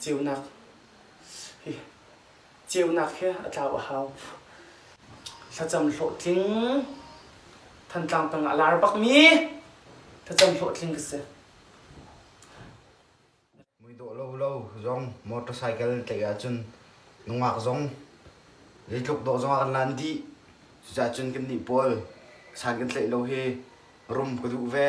ceunak hi ceunak he a tlau a hau thlacam hlawhtling thantlang tang ah lar bakmi thlacam hlawhtling ka si mui dawh lo lo zong motorcycle tlaih ahcun nungak zong zeitluk dawh zong ah kan lan dih cucahcun kan nih pawl san kan tlaih lo hi rum ka duh ve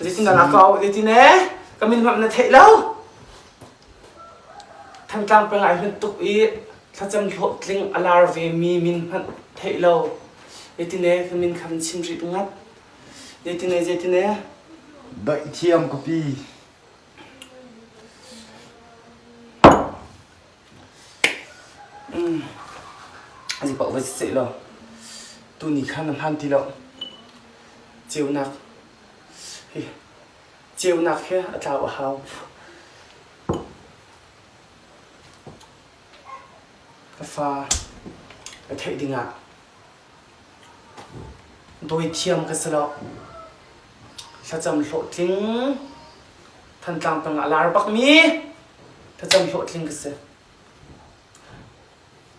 Zeitindah na kau? Zeitin eh? Ka min hmap na theih lo? Thangtlang peng ai hun tuk i thlacam hlawhtling a lar ve mi min hmanh theih lo. Zeitine ka min kha chim rip ngat. Zeitine, zeitine. Daih thiam ka pi. Zeipaoh va si sehlaw tuni khan a hmaan ti lo. Ceunak hi ceunak hi a tlau a hau. Ka fa ka theih dingah Dawi thiam ka si lo. Thlacam hlawhtling. Thantlang tang ah lar bakmi thlacam hlawhtling ka si.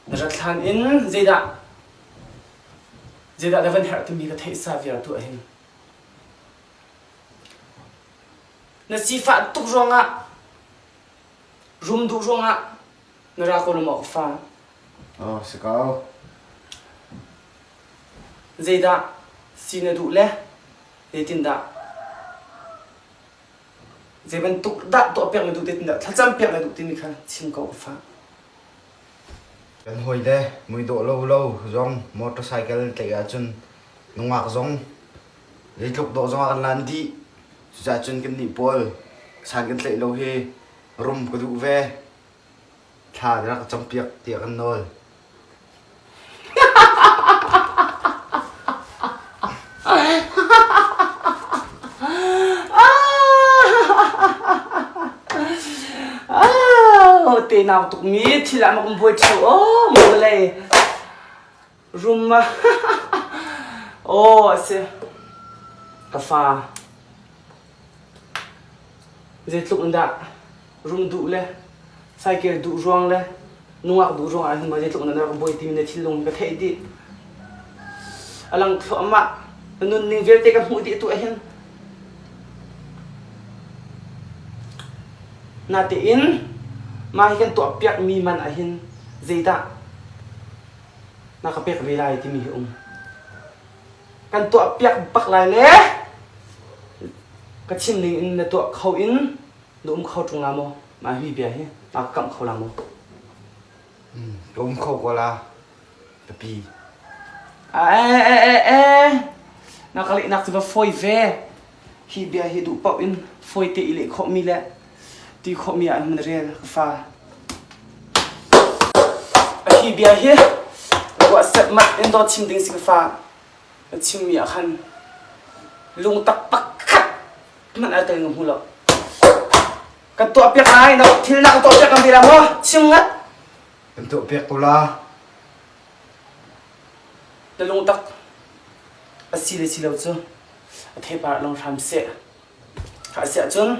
Na rat hlan in zeidah zeidah na van herh timi ka theih sa vialte ahhin. Na sifah tuk ruangah, rum duh ruangah, Mirako lung awk fa. Oh, si ko. Zeidah si na duh le zeitindah zei bantuk dah tuah piak na duh zeitindah thlacam piak na duh timi kha chim ko fa kan hoi de mui dawh lo lo zong motorcycle na tlaih ahcun nungak zong zeitluk dawh zong ah kan lan dih cucah cun kan nih pawl san kan tlaih lo hi rum ka duh ve. Thla na rak campiak tiah kan nawl. tenau tukmi thil ah mak um buai ṭheu aw maw le rum ah aw a si ka fa zeitluk in dah rum duh le cycle duh ruang le nungak duh ruang ah hin ma zeitluk in dah ka buai timi na thinlung hi ka theih dih a lang thluahmah ka nunning vialte ka hmuh dih tu ah hin natein mah hi kan tuah piak mi man ah hin zeidah na ka pek ve lai timi hi um kan tuah piak bak lai le ka chim ning in na tuah kho in na um kho ṭung la maw ma hi bia hi ma ka kamh kho la maw ka um kho ko la papi e e e e na ka lehnak cu va fawi ve hi bia hi duh paoh in fawite i leh khawhmi le ti khawhmi ah an rel ka fa a hi bia hi ruahset mat in dawt chim ding si ka fa chimmi ah khan lung taktak khat man al tel hmu lo kan tuah piak lai na thil na kan tuah piak kan bira mo chim ngat kan tuah piak ko la Talawtak asi le si lo cu a thepar long hram seh. Kha siah cun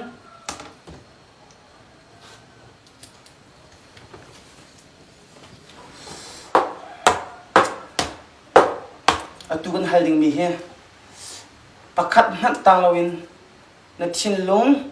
atu kan hal dingmi hi pakhat hmanh tang loin na thinlung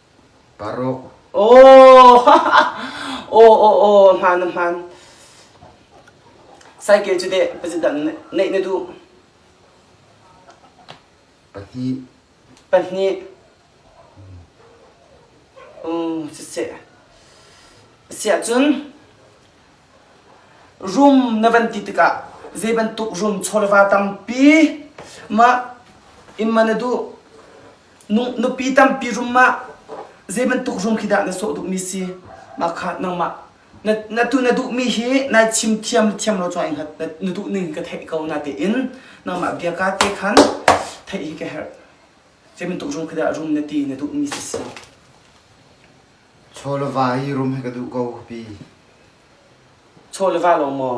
Paruk. Aw, aw, hmaan na hmaan. Cycle cu deh pazidan neih na duh? Pahnih. Pahnih. Um, siseh. Siah cun room na van ti tikah zei bantuk room chawleva tampi ma imma na duh nupi tampi rum ma zei bantuk rum khi dah na sawh duhmi si mah kha nangmah na tu na duhmi hi nai chim thiam thiam lo chuan hngat na duh ning ka theih ko na tein nangmah bia ka te khan theih hi ka herh zei bantuk rum khi dah rum na ti na duhmi si si chawlava hi rum hi ka duh ko pi chawlava lo maw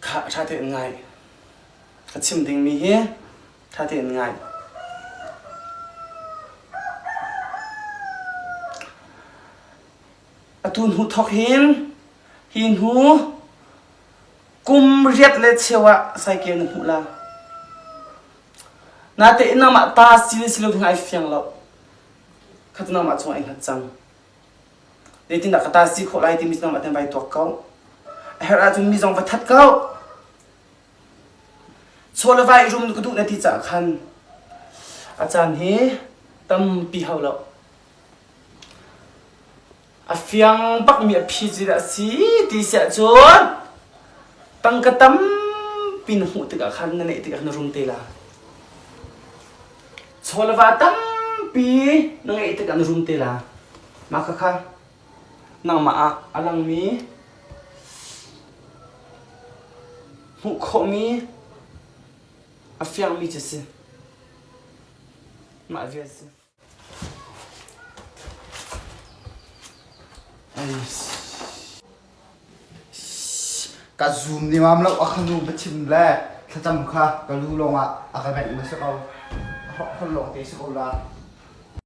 Khah ṭha tein ngai. Ka chim dingmi hi ṭha tein ngai. Atu hnu thawk hin hi hnu kum riat le cheu ah cycle na hmuh la. Natein nangmah ta si le si lo ding ai fiang lo. Khat nangmah chung ai hngat cang. Leitindah ka ta si khawh lai timi nangmah ten vai tuak ko. A her ahcun mi zong va that ko. Chawla vai rum ka duh na ti caah khan a caan hi tampi hau lo. A fiang bakmi a phizil a si ti si ahcun tangka tampi na hmuh tikah khan na neih tikah khan na rum te la chawleva tampi na ngeih tikah na rum te la mah kha kha nangmah ah a langmi hmuh khawhmi a fiangmi cu si mah vial si Ka zoom ni mam lo a khanu va chim le thlacam kha ka lu lawngah a ka benh ma si ko. Holh lawng te si ko la.